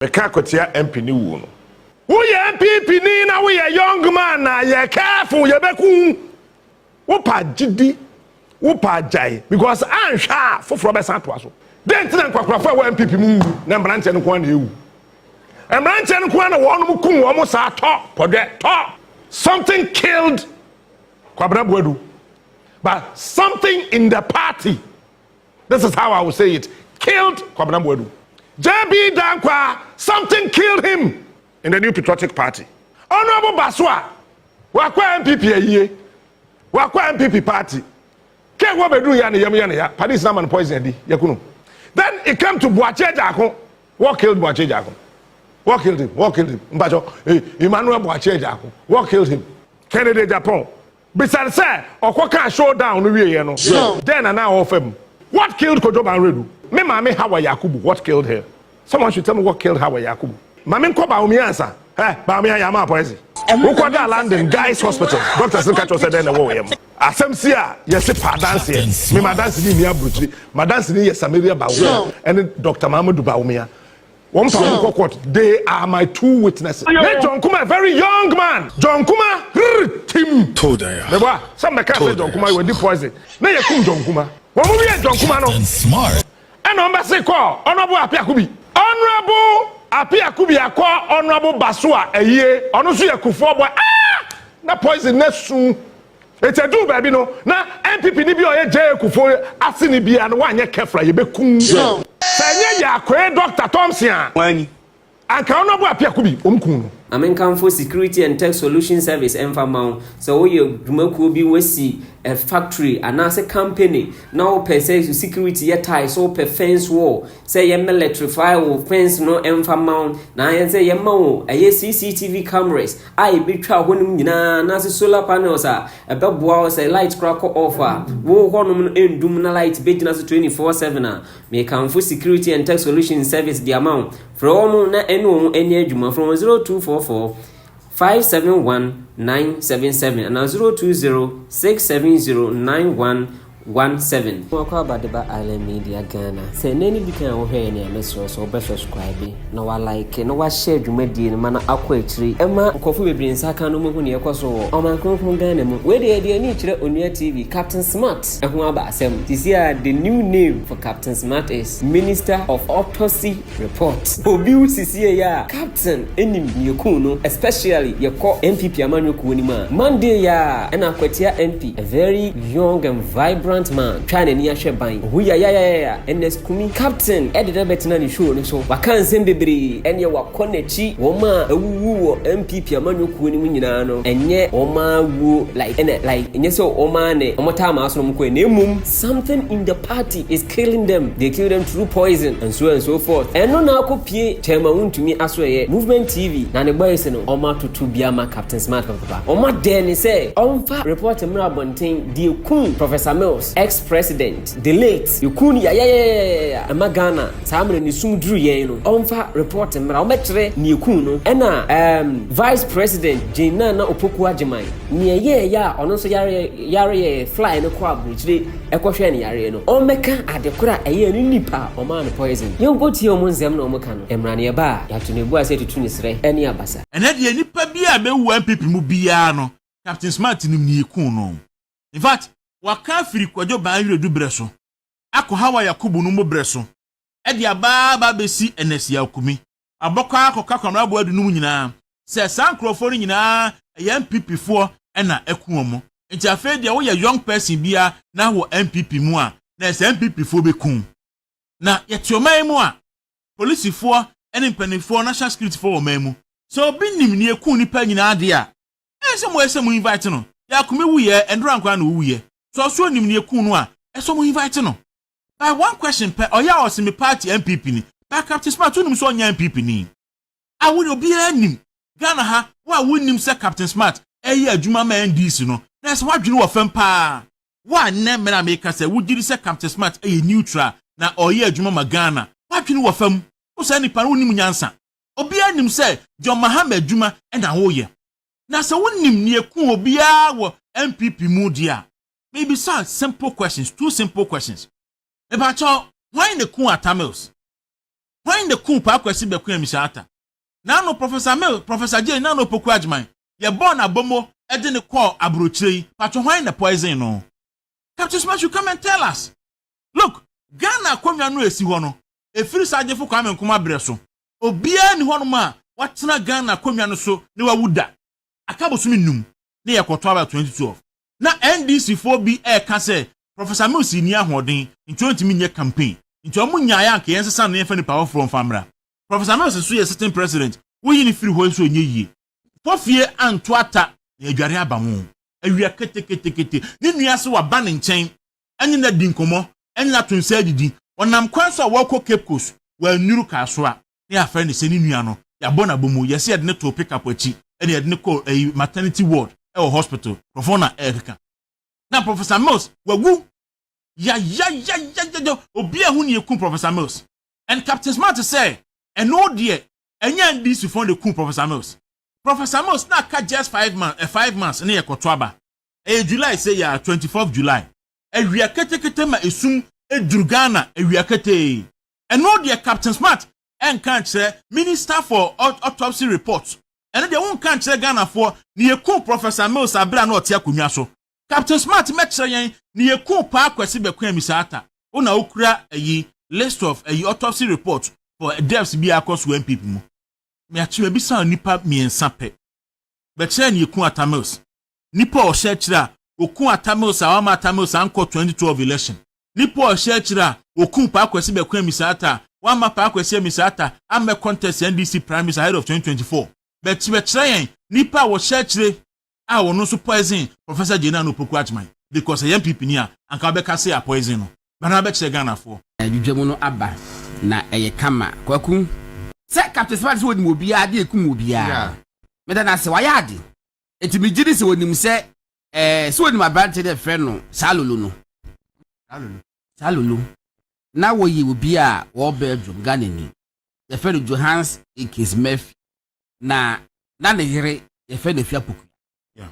Meka kɔtia MP ne wuo no. Woyɛ NPP ni na woyɛ young man na yɛ careful yɛbɛku wo. Wopɛ agyedi, wopɛ agyae because anhwɛ a foforɔ bɛsan atoa so. Dɛn nti na nkwakorafo a ɛwɔ NPP mu nwu na mmranteɛ no nko ara na ɛwu? Mmranteɛ no nko ara na wɔnom kum wɔn saa tɔ pɔdwɛ tɔ something killed Kwabena Boadu but something in the party this is how I will say it, killed Kwabena Boadu. JB Dankwah, something killed him in the New Patriotic Party. Honorable Basua, wakɔ NPP ayie, wakɔ NPP party. Kɛ wɔ bɛduru ya ne yam yɛ ne ya, police na man poison adi, yakunu. Then it came to Boakye Agyarko, what killed Boakye Agyarko? What killed him? What killed him? Mpacho, eh, Emmanuel Boakye Agyarko, what killed him? Kennedy Agyapong, Bisa no sɛ, ɔkɔ kaa show down no wieɛ no, dɛn na na ɔɔfa mu? What killed Kojo Banredu? Me maame Hawa Yakubu What killed her? Someone should tell me what killed Hawa Yakubu? Ma me nkɔ Bawumia ansa. Hɛ! Bawumia yɛ ama apoisi. Wo kɔ daa London Guy's Hospital, doctors no ka kyerɛ wo sɛ dɛn na ɛwɔ wo yam? Asɛm si a, yɛse pa adanseɛ. Me m'adanseni nni aburokyire. M'adanseni yɛ Samaria Bawumia ɛne Doctor Mamadou Bawumia. Wɔn fa wɔn kɔ court. They are my two witnesses. Ne John Kuma a very young man. John Kuma rrr tim. Todayah. Mebɔ a sɛ mbɛka sɛ John Kuma wadi poison na yɛ kum John Kuma. Wɔn wiee John Kuma no ɛna wɔn bɛse kɔ Honourable Apia Akubi. Honourable Apia Akubi akɔ Honourable Basoa Ayie ɔno nso yɛ Kufuor boy aah na poison no asu Enti eduu baabi no, na NPP ni bi a ɔyɛ Jay Kufuor aseni biara no wanyɛ careful a, yebekum no. Sɛ ɛnyɛ Yakoe Doctor Thompson a, anka ɔno ɔbɔ apiako bi, wɔn kum no. Mame nkamfo Security and Tech Solution Service mfa mma wo. Sɛ woyɛ dwumakuo bi, woasi factory anaase company na wopɛ sɛ security yɛ tae, so wopɛ fence wall, sɛ yɛ mɛlɛtrifai wo fɛns no mfa mma wo na yɛn sɛ yɛma wo ɛyɛ CCTV cameras a ɛbɛtwa hɔ nom nyinaa anaasɛ solar panels a ɛbɛboa wo sɛ light kora kɔ off a wo hɔ nom no ɛndum na light bɛgyina so 24/7 a mekamfo security and tech solution service de ama wo frɛ wɔ mo na ɛne wɔn ani adwuma frɛ wɔn 0244 571 977 anaa 020 670 91 one seven. Mako aba de ba Island Media Ghana. Sɛ ɛnnɛ ne dikan a wohwɛ yɛn a, mɛsrɛ wo sɛ wobɛ subscribe, na wa like, na wa share dwumadie no ma no akɔ akyiri ɛma nkurɔfo bebree nsa aka no mmɛhu nea ɛkɔ so wɔ ɔman kronkron Ghana mu. Wei deɛ yɛde yɛn ani kyerɛ Onua TV, Captain Smart ɛho aba asɛm. Seesei ara the new name for Captain Smart is Minister of Autopsy. Report. Obi wu sisiei a captain nim nea ekum no especially yɛkɔ NPP amanyɔ kuo no mu a. Monday yi ara ɛna Akwatia MP a very young and vibrant man twaa n'ani ahwɛ ban. Ohu yayayayaya Ernest Kumi. Captain de no abɛtena ne show no so. Waka nsɛm bebree ɛneɛ wakɔ n'akyi. Wɔn a awuwu wɔ NPP amanyɔ kuo no mu nyinaa no ɛnyɛ wɔn ara wuo like ɛna like ɛnyɛ sɛ wɔn ara ne wɔtaa maa so na wɔkɔɛ na mmom something in the party is Killing them, they kill them through poison and so and so forth Ɛno na akɔ pie kyɛɛ ma wontumi asoɛeɛ Movement TV na ne bɔys no ɔmo atoto bi ama Captain Smart papapapa Ɔmo adɛɛ ne sɛ ɔmfa report mmra abɔnten deɛ ɛkum Professor Mills, ex president, the late Yɛkuu no yayayayayaya ɛma Ghana saa mmerɛ no esum duru yɛn no Ɔmfa report mmra ɔmmɛkyerɛ nea ɛkuu no Ɛna erm vice president Jane Nana Opoku Agyeman nea ɛyɛɛyɛ a ɔno nso yareɛ yareɛ fly no kɔɔ abrokyire ɛkɔhwɛɛ no yareɛ no ɔmmɛka adekoro a ɛyɛɛ no nnipa a ɔmaa no poison yɛnkɔtie ɔmo nsɛm na ɔmo ka no ɛmmra ne ɛba a yɛato no abua sɛ tutu ne serɛ ɛne abasa. Ɛnɛ deɛ nipa biaa bɛwu NPP mu biaa no Captain Smart nim neɛ ekuu no. Infact waka afiri Kwadwo Baanwiredu berɛ so akɔ Hawa Yakubu no mu berɛ so de aba aba abɛsi Ernest Yaw Kumi. abɔkwaa kɔka Kwamraboa du no mu nyinaa sɛ saa nkurɔfoɔ no nyinaa ɛyɛ NPP foɔ ɛna ɛku wɔn nti afei deɛ woyɛ young person bia na wɔ NPP mu a na ɛsɛ NPP foɔ bɛku na yɛte ɔman yi mu a polisifoɔ ɛne mpanimfoɔ national security foɔ wɔ ɔman mu sɛ obi nim ne ɛku nipa nyinaa deɛ a ɛyɛ sɛ mo ɛsɛ mo invite no yɛ akome wuyɛ ɛndora nkoraa na owuyɛ sɛ ɔso nim ne ɛku no a ɛsɛ mo invite no by one question pɛ ɔyɛ a ɔse me party NPP ni by Captain Smart wonim sɛ ɔnyɛ NPP ni a wodeɛ obiara nim Ghana ha wo a wonnim sɛ Captain Smart ɛyɛ adwuma ma NDC no na ɛsɛ wadwene wɔ fam paa wo a nnɛ mmerɛ a meka sɛ wogyedi sɛ Captain Smart ɛyɛ neutral na ɔyɛ adwuma ma Ghana wadwene wɔ fam wo saa nipa no wonim nyansa obiara nim sɛ John Mahama adwuma ɛna woyɛ na sɛ wonim neɛ ku obiara wɔ NPP mu deɛ a mebisa simple questions two simple questions mepakyɛw hwan na kun ata mills hwan na kun paa kwasi bɛko amisa ata na ano professor mill professor jane na ano poku agyeman yɛbɔɔ no abomo de ne kɔɔ aburokyire yi pakyɛw hwan na poison no captain smash you come and tell us look ghana akonnwa no esi hɔ no efiri saa gyefo kwame nkoma brɛ so obiara ni hɔnom a watena ghana akonnwa no so ne wawu da aka bosom nnum ne yɛkɔto aba 2012 na NDC foɔ bi ɛɛka sɛ Professor Mills nni ahoɔden nti ɔntumi nyɛ campaign nti ɔmo nyaeɛ anka yɛn nsesa no na yɛnfa nipa foforɔ nfa mmra. Professor Mills nso yɛ sitting president woyi no firi hɔ nso ɛnyɛ yie. Kɔ fie anto ata na yɛadware aba ho. Awia keteketekete. Ne nua se waba ne nkyɛn ɛne no adi nkɔmmɔ, ɛne no ato nsa adidi. Ɔnam kwan so a wɔrekɔ Cape Coast, wannuru kaa so a, na yɛafrɛ no sɛ ne nua no, yɛabɔ no abɔ mu, yɛse yɛde no too pick up akyi na yɛde no kɔɔ ɛyi, maternity ward wɔ hospital, nkurɔfoɔ na ɛrekeka. Na Professor Mills wawu! Yayayayayaya! Obiara ahu nea ɛkum Professor Mills. And Captain Smart sɛ, ɛno deɛ, ɛnyɛ NDCfoɔ na ɛkum Professor Mills. Professor Mills na aka just five months, eh, five months na yɛkɔto aba. ɛyɛ July sɛ yɛ a, twenty fourth July. Awia ketekete ma esum duru Ghana awia ketee. Ɛno deɛ Captain Smart nka nkyerɛ Minister for Autopsy report. Ɛno deɛ wonka nkyerɛ Ghanafoɔ ne yɛkuu Professor Mills abere a na ɔte akonnwa so. Captain Smart mmɛkyerɛ yɛn ne yɛkuu Paa Kwasi Bɛkwɛ Amisa Atta. Wo na wokura ayi list of ayi autopsy report for deaths biara akɔ so wɔ NPP mu. Meakyi mabisa wo nnipa mmiɛnsa pɛ. Bɛkyerɛ yɛn ne yɛkuu Atta Mills. nipa a ɔhyɛ akyire a ɔkuu Atta Mills a wamma Atta Mills ankɔ 2012 election. Nipa a ɔhyɛ akyire a ɔkuu Pa Kwesi Bɛko Amissah Atta a wamma Pa Kwesi Amissah Atta ammɛ contest NDC primaries ahead of 2024. But kyerɛkyerɛ yɛn nipa a wɔhyɛ akyire a ɔno nso poison Professor Jay Nana Opoku Agyman because ɛyɛ NPP ni a anka wobɛka sɛ yɛapoison no. Bra na bɛkyerɛ Ghanafoɔ. Dwudwamu no aba na ɛyɛ kama Kwaku. Sɛ Captain Smarty sɛ onim obiara de ekum obiara. Meda no ase, wayɛ ade. Enti megye di sɛ wɔnim sɛ ɛɛ sɛ wɔnim aberante dɛ frɛ no saa lolo no. Saa lolo. Saa lolo. Na wɔyɛ obi a wɔwɔ Belgium, Ghanani. Yɛfrɛ no Johans Ekins Murphy. Na na ne yere yɛfrɛ no Afia Poku. Yeah.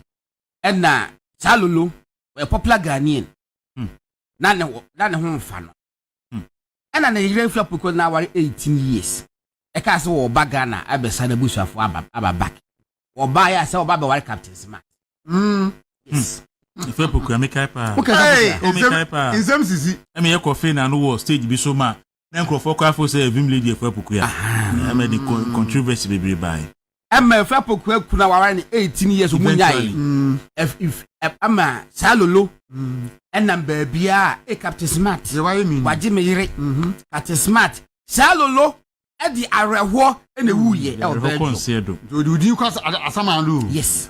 Ɛna saa lolo wɔyɛ popular Ghanaian. Hmm. Na ne, na ne ho mfa no. Hmm. Ɛna ne yere nso apoko na aware 18 years. Ɛkaa sɛ wɔba Ghana abɛsa n'abusuafo aba aba back. Wɔbaeɛ a sɛ wɔba abɛware Captain Smart. Mm. Yes. Hmm. Efe Poku ɛmi kae paa. O kasa sisi. O mi kae paa. Nsɛm sisi. Ɛmi yɛ kɔ fee na ano wɔ stage bi so ma na nkurɔfoɔ kɔ afo sɛ Vim Lady Efe Poku ya. Ɛmɛ de controversy bebree baa yi. ɛma efi apokuwa kuna waware ne eighteen years ɔmu nyae ɛma saa lolo mm. ɛnam baabiaa e captain smart wagye me yere mm-hmm. captain smart saa lolo ɛde awerɛhoɔ ɛna ɛwuyɛ ɛwɔ bɛɛdo nti ɔde odin kɔ asaman do yes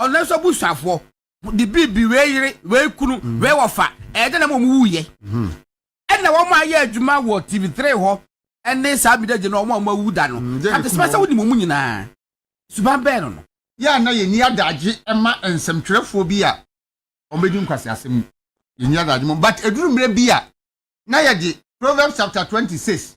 ɔno nso abusuafoɔ de biribi wei yere wei kunu mm. wei wɔfa ɛyɛ dɛ na wɔn wu yɛ mm-hmm. ɛna wɔn ayɛ adwuma wɔ tv three hɔ ɛne saa bi dɛ gye na wɔn a wɔn awu da no mm, kati sima sɛ wɔnim wɔn nyinaa suban bɛn no no. yɛ a na yɛ ni adagye ɛma nsɛmtwerɛfoɔ bi a wɔn bɛ di nkwasi asɛm mu yɛ ni adagye mu but eduru mmerɛ bi a na yɛ de proverbs chapter twenty six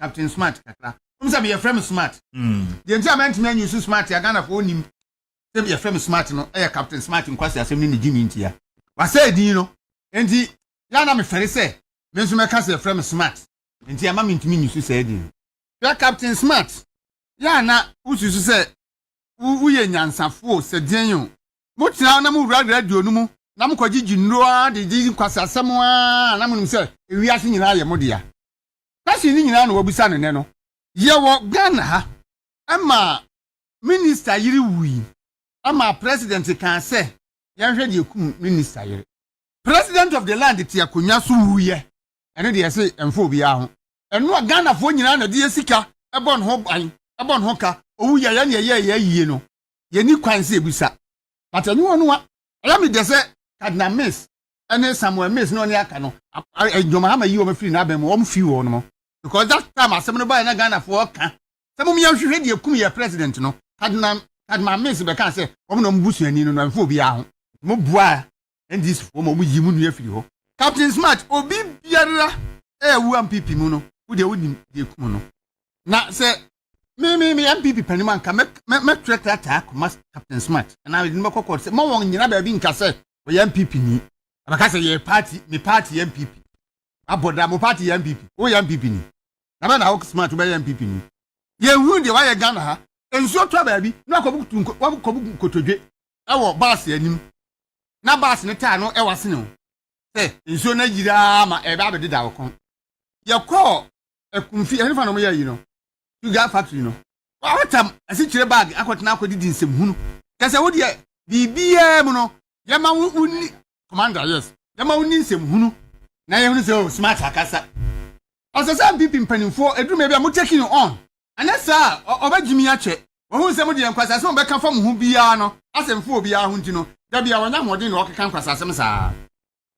captain smart kakra wɔn sɛ yɛfrɛ me smart hmm. deɛ nti a mɛntumi anyi so smart a ghana fo onim sɛ yɛfrɛ me smart no ɛyɛ captain smart nkwasi asɛm ne ne gyimi ntia wasɛ edin no nti yɛana me fɛre sɛ me nso mɛka sɛ yɛfrɛ me smart nti ama me ntumi nyi so sɛ edin hwɛ captain smart yɛana wosusu sɛ woyɛ nyansafo sɛ deɛn o motena na mowura radio no mu na mokɔgyegye nnuro ara de gye nkwasi asɛm ara na monim sɛ ewiase nyinaa yɛ mo dea Question no nyinaa na wabisa no nnɛ no. Yɛwɔ Ghana ha ɛma minister yere wui ɛma president kaa sɛ yɛnhwɛ deɛ ɛkum minister yere. President of the land te akonwa so wuiɛ ɛno deɛ yɛse ɛmfa obiara ho. Ɛno a Ghanafoɔ nyinaa na deɛ sika ɛbɔ ne ho ban ɛbɔ ne ho ka owu yɛyɛ neɛ yɛyɛ ayie no yɛnni kwan sɛ yɛbisa but ɛnyowa noa. Ɛyɛ me dɛ sɛ Cardinal Miss ɛne samuel mills ne ɔne aka no ɛdwom hama yi wɔn afiri n'abɛn mu wɔn fi wɔn mo because that time asɛm no baa na ghana fo ɔka sɛ mo yɛn hwehwɛ deɛ kum yɛ president no kadinam kadinam mills bɛka sɛ wɔn na wɔn busuani no na mfe obiara ho mo bua ndc fo wɔn wɔn yi mo nua firi hɔ captain smart obi biara ɛyɛ wu mpp mu no wo deɛ wonim deɛ kum no na sɛ me me me mpp panim anka mɛtwerɛ krataa kɔma captain smart ɛna mede no bɛkɔ kɔɔt sɛ ma wɔn nyina baabi nka sɛ ɔyɛ npp ni abɛka sɛ yɛ party me party yɛ npp abɔda mo party yɛ npp woyɛ npp ni na bɛ na wo smart wobɛyɛ npp ni yɛhu deɛ wayɛ ghana ha nsuo tɔ baabi na wakɔbu nkotodwe ɛwɔ baase anim na baase no taa no ɛwɔ asene ho sɛ nsuo no ayiraa ma ɛbɛ abɛdeda wo kɔn yɛkɔɔ akumfi ɛne fa na wɔyɛ yi no sugar factory no wɔatam asikyire bag akɔtena akɔdidi nsɛm hunu kɛsɛ wo deɛ biribiara mu no yɛma wo wonni commander yes yɛma wonni nsɛm hunu na yɛhunu sɛ o oh, smart akasa ɔsɛ sɛ mpp mpanimfoɔ ɛduru baabi a mo taking you on ɛnyɛ saa a ɔbɛgyimi akyɛ wɔhu nsɛm deɛ nkwasasɛm a ɔbɛka fa mo ho biara no asɛmfo obiara ho nti no da bia wɔnyɛ ahoɔden na ɔkeka nkwasasɛm saa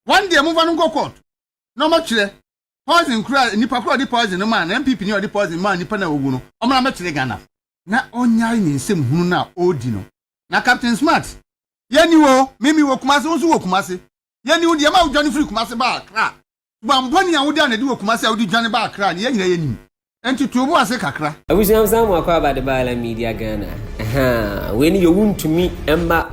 wɔn deɛ momfa no nkɔ court na ɔmɔtwerɛ poison kura nipa kura ɔde poison no maa na npp ni ɔde poison maa nipa na owu no ɔmo na mɛkyerɛ ghana na ɔnyae ne nsɛm hunu na ɔɔdi no na captain smart yɛni wo mimi wɔ kumase wo nso wɔ kumase yɛni wo deɛ ma wodwane firi kumase baa kra subanbɔne a wode anadi wɔ kumase a wode dwane baa kra no yɛn nyina yɛnim Ɛnti to obu ase kakra. Abusua msan mu akwaaba de baala media Ghana ahaa wei ne yɛwu ntumi mma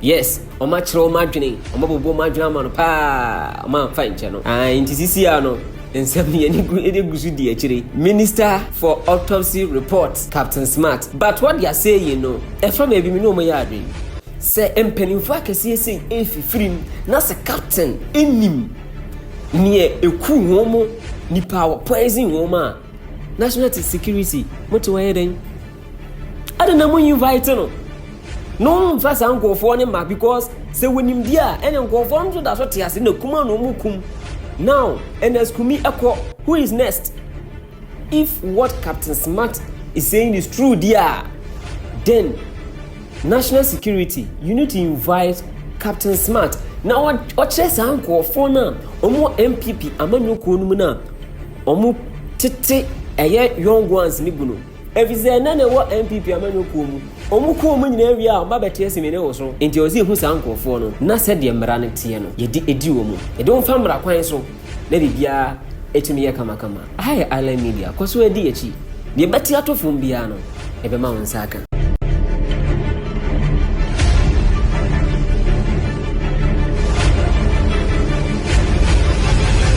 yes ɔma akyerɛ ɔma adwene ɔma bɔbɔ ɔma adwene ama no paa ɔma amfa nkyɛ no ah nti sisi a no nsɛm yɛne gu ɛde gu so di akyire minister for autopsy report captain smart but what they are saying no ɛfa ma ebi mi ne ɔmo yɛ adwene sɛ mpanimfoɔ akɛseɛ sei ɛfifiri mu na sɛ captain ɛnim Neɛ ɛku hɔn mo nipa wɔ poison hɔn mo a national te security mo te hɔ yɛ dɛn adɛn na mo invite no na wɔn mfa saa nkurɔfoɔ ne ma because sɛ wɔnim di a ɛna nkurɔfoɔ nso da so te ase na kuma na wɔn kum now ɛna kumi ɛkɔ who is next. If what Captain Smart is saying is true deɛ a, then national security, you need to invite Captain Smart na ɔkyerɛ saa nkurɔfoɔ no a wɔwɔ NPP amanyɔkuo no mu no a wɔn tete ɛyɛ young ones ne gu no ɛfiri sɛ ɛnɛ na ɛwɔ NPP amanyɔkuo mu wɔn kɔ wɔn nyinaa wie a wɔn ba bɛte asimi ne wɔ so nti ɔsi ehu saa nkurɔfoɔ no na sɛdeɛ mmara no teɛ no yɛde edi wɔn mu yɛde wɔn fa mmara kwan so. na biribiara tumi yɛ kamakama. Aha yɛ Island Media, kɔ so ara di akyi. Deɛ ɛbɛte ato fam biara no, yɛbɛma wo nsa aka.